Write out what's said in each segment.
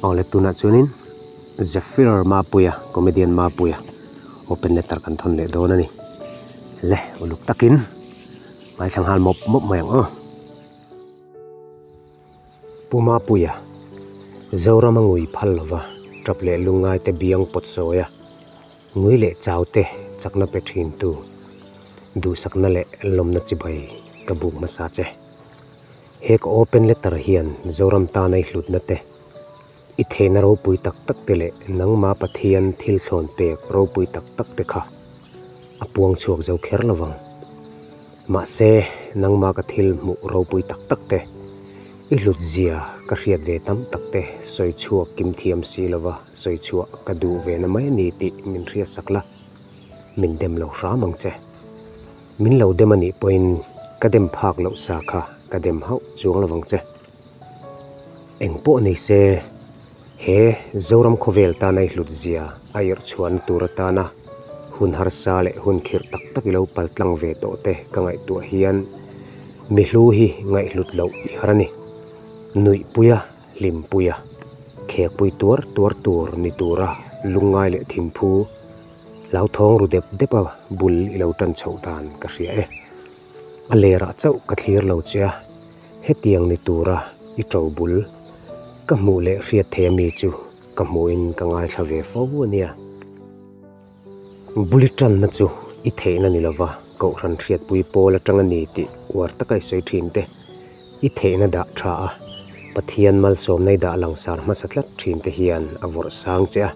Aw le tunah chuanin Zephyr Mapuia comedian Mapuia open letter kan thawn leh dawn a ni. Le uluk takin ngaithla nghal mawp mawp mai ang aw. Pu Mapuia Zoram a ngui phal lova tap leh lungngai te biang pawt sawi a, ngui leh chau te chakna pe thin tu duhsakna leh lawmna chibai ka buk hmasa che. He ka open letter hian Zoram tana i hlutna te, i theihna ropui tak tak te leh nangma Pathian thil thlawn pek ropui tak tak te kha a puang chhuak zo kher lo vang. Mahse, nangma ka thil hmuh ropui tak tak te i hlut zia ka hriat ve tam tak te sawi chhuak kim thiam si lova sawi chhuah ka duh ve na mai a ni tih min hriatsak la. min dem lo hram ang che. Min lo dem anih pawhin ka dem phak loh sa kha ka dem hauh chuang lovang che. Eng pawh nei se, he Zoram khawvel tana i hlut zia a irh chhuahna tur atana hun harsa leh hun khirh tak tak i lo pal tlang ve tawh te ka ngaihtuah hian mi hlu hi ngaihhlut loh tihar a ni. Nuihpuia. Hlimpuia khekpui tuar tuar tur ni tura lungngai leh thimphu hlauthawng ru dep depa bul i lo tan chhoh dan ka hria e. A lerah chauh ka thlir lo che a, hetiang ni tura i to bul ka hmuh leh hriat theih ami chu ka hmuhin ka ngaithla ve fo ania. Bullet tanna chu i theihna ni lova, Kohhran hriatpui pawl atang a ni tih uar taka i sawi thin te, i theihna dah tha a, Pathian malsawmna i dah langsar hmasa tlat thin te hian a vawrh sang che a,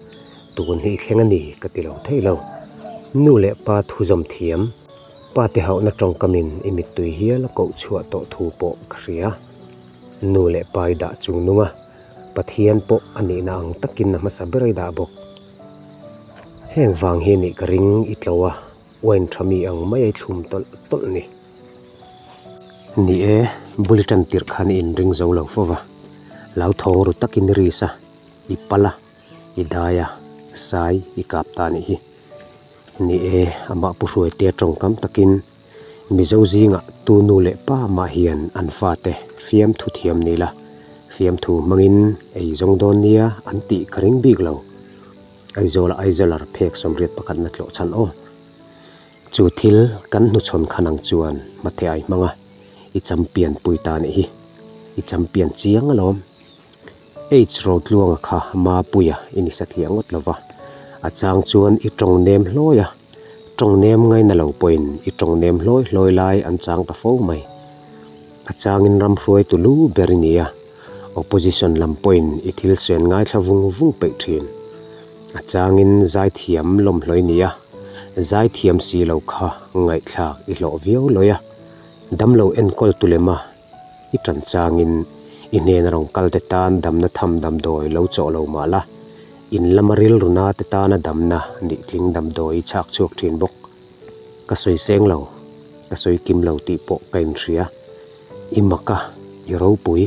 tun hi i thleng a ni ka ti lo theih lo. Nu leh pa thu zawm thiam, pa te hauhna tawngkamin i mittui hial a koh chhuah tawh thu pawh ka hria. Nu leh pa i dah chung nunga Pathian pawh a nihna ang takin a hmasa ber a i dah bawk, Heng vang hi anih ka ring i tlo a, wine tha mi ang mai i thlum tawlh tawlh ni. Ni e, Bulliton tirh khan i inring zo lo fo va, Lauthawng ru takin i ris a, i pal a, i dai a, sai i kap ta anih hi. Ni e, amah pu hruaite tawng kam takin. Mizo zinga tu nu leh pa mah hian an fate fiamthu thiam ni la, fiamthu hmangin ei zawng dawn nia an tih ka ring bik lo. Aizawla Aizalar phek sawmriat pakhat na tlawh chhan aw. Chu thil kan hnuchhawn khan ang chuan hmatheh ai hmang a, i champion pui ta nih hi, i champion chiang alawm. Age rotluanga kha Mapuia i ni satliah ngawt lova, a chang chuan i tawng nem hlawi a. Tawng nem ngai na lo pawhin i tawng nem hlawi hlawi lai an chang ta fo mai. A changin ram hruai tu lu ber i nia, opposition lam pawhin i thil suan ngaithla vung vung peih thin. A changin zaithiam lawm hlawi nia, zaithiam si lo kha ngaihthlak i hlawh viau lawia, damlo enkawl tu lema i tanchangin i hnena rawn kal te tan damna tham damdawi lo chawh lo mah la, in lama rilruna te tana damna nih tling damdawi i chhak chhuak thin bawk. Ka sawi seng lo, ka sawi kim lo tih pawh ka inhria. I maka, i ropui,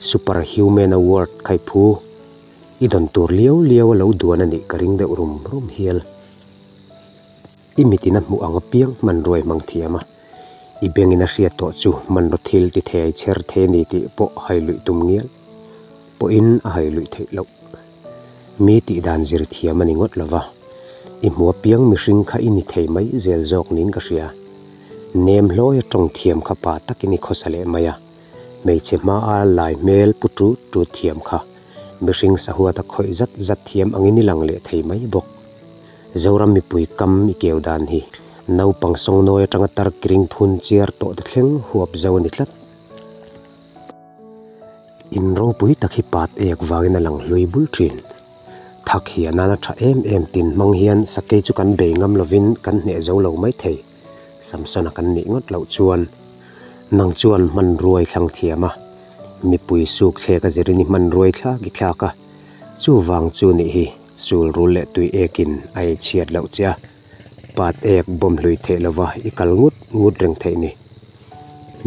super human award kha i phu. I dawn tur liau liau a lo duan a nih ka ring deuh rum rum hial. i mitin a hmuh ang apiang hmanruai hmang thiam a i bengin a hriat tawh chu hmanraw thil tithei chher thei a ni tih pawh hailuih tum ngial pawhin a hailuih theih loh mi tih dan zir thiam a ni ngawt lo va i hmu apiang mihring kha i ni thei mai zel zawk niin ka hria nem hlawi a tawng thiam kha pah takin i khawsa leh mai a hmeichhe hmaa lai hmel pu ṭut ṭut thiam kha mihring sahuata khawih zat zat thiam angin i lang leh thei mai bawk. Zoram mipui kam i keu dan hi naupang sawngnawi atanga tarkring phun chiar tawh ta thleng huap zo a ni tlat. In ropui tak hi pat ek vangin a lang hlui bul thin. Thak hi a nan a tha em em tin hmang hian sakei chu kan bei ngam lovin kan hneh zo lo mai thei. Samson-a kan nih ngawt loh chuan, Nang chuan hmanruai thlang thiam a, mipui sukthlek a zir in i hmanruai thlak i thlak a, chuvang chu nih hi, Sulrul leh tui ekin a inchhiat loh che a, pat ek bawm hlui theih lova i kal ngut ngut reng theih ni.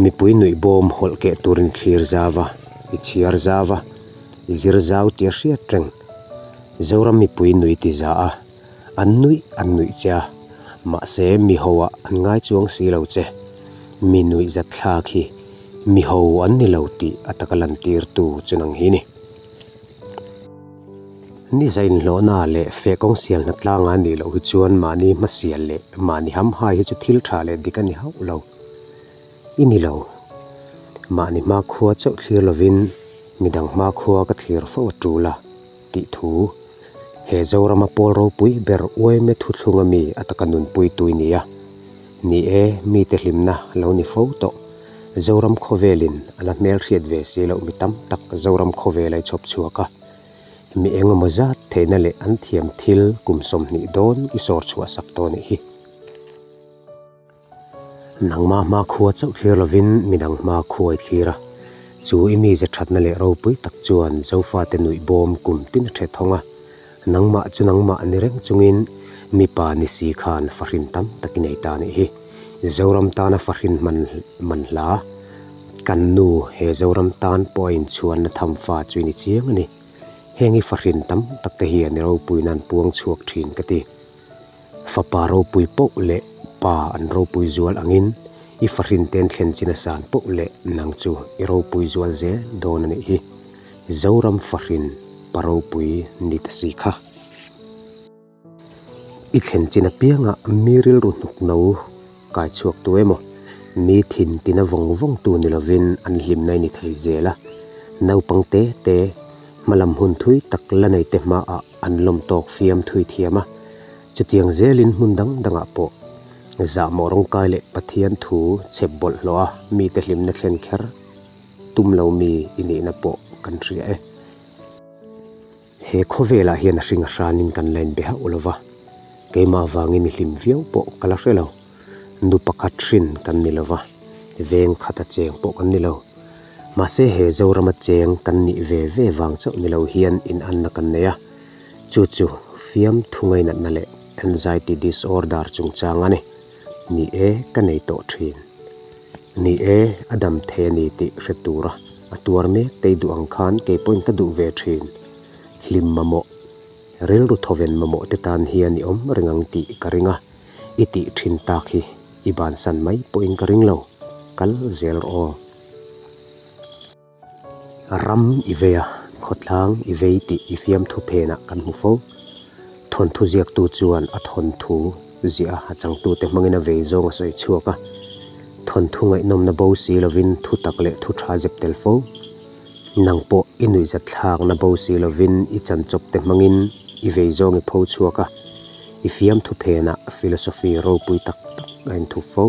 Mipui nuih bawm hawlh keh turin thlir zau a, i chhiar zau a, i zir zau tir hriat reng. Zoram mipui nui ti za a, an nuih an nuih che a, mahse miho ah an ngai chuang si lo che. Mi nuih zat thlak hi miho an ni lo tih a taka lantirtu chuang hi a ni. Nizain hlawhna leh fe kawng sialna tlangah nih loh hi chuan mahni hmasial leh mahni hamhai hi chu thil tha leh dik a ni hauh lo. I ni lo, mahni hma khua chauh thlir lovin midang hma khua ka thlir fo a tul a, tih thu he Zorama Pawl ropui ber uaime thuthlung ami a taka nunpuitui nia. Ni e, mite hlimna lo ni fo tawh. Zoram khawvelin a la hmelhriat ve si loh mi tam tak Zoram khawvel a i chhawp chhuak a. Mi eng emaw zat theihna leh an thiam thil kum sawm hnih dawn i sawr chhuah sak tawh nih hi. Nangma hma khua chauh thlir lovin midang hma khua i thlir a. Chu i mi ze thatna leh ropui tak chuan Zofate nuih bawm kum tina ṭhethawng a. Nangmah chu nangmah ni reng chungin mipa ni si khan fahrin tam tak i nei ta nih hi. Zoram tana fahrin hman man hla. Kan nu he Zoram tan pawh a inchhuanna tham fa chu i ni chiang a ni. Heng hi fahrin tam tak te hian i ropuinan puang chhuak thin ka ti. Fapa ropui poh leh pa an ropui zual angin i fahrin ten thlen china san poh leh nang chu i ropui zual zel dawn a nih hi. Zoram fahrin pa ropui ni ta si kha. I thlen chin apiangah mi rilru hnukno. kai chhuak tu emaw mi thin tina vawng vawng tu ni lovin an hlimna i ni thei zel a, naupang te te hmalam hun thui tak la nei te hmaah an lawm tawk fiam thui thiam a, chutiang zelin hmun dang dangah pawh zah mawh rawng kai leh Pathian thu chep bawlh hlawha mite hlimna thlen kher tum lomi i nihna pawh kan hria e. He khawvelah hian a hringa hranin kan la inbe hauh lo va, keimah avangin i hlim viau pawh ka la hre lo. Nu pakhat hrin kan ni lo va, veng khata cheng pawh kan ni lo. Mahse he Zorama cheng kan nih ve ve vang chauh ni lo hian inanna kan nei a, chu chu fiam thungainatna leh anxiety disorder chungchang a ni. Ni e, ka nei tawh thin. Ni e, a dam thei a ni tih hre tura. a tuar mek tei duh ang khan kei pawhin ka duh ve thin. Hlim mamawh, rilru thawven mamawh te tan hian i awm reng ang tih ka ring a, i tih thin tak hi i bansan mai pawhin ka ring lo, kal zel rawh aw. Ram i vei a, khawtlang i vei tih i fiamthu phenah kan hmu fo. Thawnthu ziaktu chuan a thawnthu. Ziah a changtute hmangin a vei zawng a sawi chhuak a, Thawnthu ngaihnawmna bo si lovin thutak leh thutha zep tel fo. Nang pawh i nuihzat thlakna bo si lovin i chanchawpte hmangin i vei zawng i pho chhuak a, i fiam thuphena philosophy ropui tak tak a inthup fo.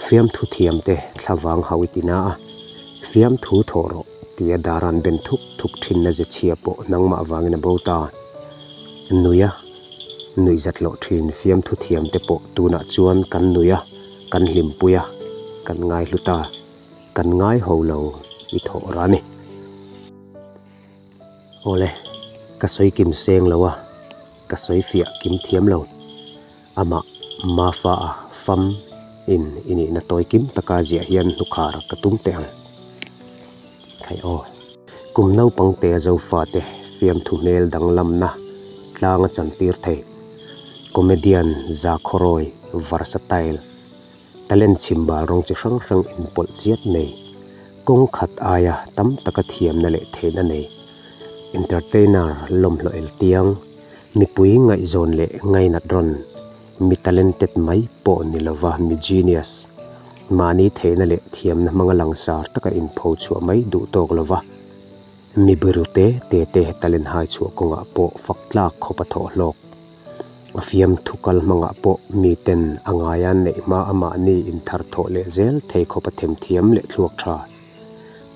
Fiamthu thiam te thla vang hau i ti na a, fiamthu thawh rawh tia Daran ben thuk thuk thinna ze chhia pawh nangmah vangin a bo ta. Nuih a, nuih zat hlawh thin fiamthu thiam te pawh tunah chuan kan nuih a, kan hlimpui a, kan ngaihlu ta, kan ngai ho lo i thawh rani. Awle, ka sawi kim seng lo a, ka sawi fiah kim thiam lo. Amah Mafaa fam in i nihna tawi kim taka ziah hian hnukhar ka tum teh ang. Khai aw. Kum naupang te Zofate fiamthu hmel danglamna tlanga chantir thei, comedian Zakhaw Roy, Varsatile, Talent chhim bal rawng chi hrang hrang inpawlh chiat nei, kawngkhat aia tam taka thiamna leh theihna nei, entertainer lawmhloh el tiang, mipui ngaihzawn leh ngainat rawn, mi talented mai pawh ni lova mi genius, mahni theihna leh thiamna hmanga langsar taka inpho chhuah mai duh tawk lova mi birute tete talent haichhuah kawngah pawh faktlak khawpa thawh hlawk. A fiam thu kal hmangah pawh miten a ngai a neih hma a mahni inthar thawh leh zel thei khawpa themthiam leh thluak tha.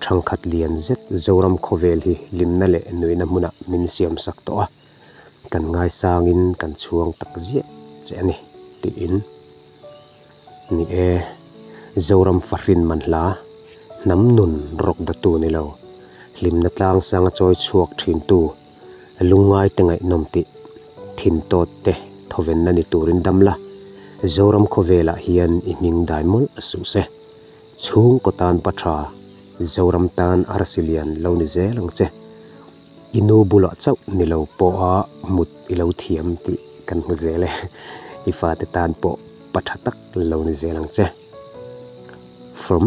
Thangkhat lian zet Zoram khawvel hi limna leh nuihna hmunah min siam sak tawh a, kan ngaisangin kan chhuang tak ziah che a ni, tiin. Ni e, Zoram fahrin man hla, hnam nun rawk datu ni lo, hlimna tlang sanga chawi chhuak thintu, lungngai te ngaihnawm tih thintawt te thawvenna ni turin dam la, Zoram khawvelah hian i hming dai mawlh a suh se. Chhungkaw tan pa tha, Zoram tan arsi lian lo ni zel ang che. I nu bulah chauh ni lo pawha mut i lo thiam tih kan hmu zel e. I fate tan pawh pa tha tak lo ni zel ang che. From.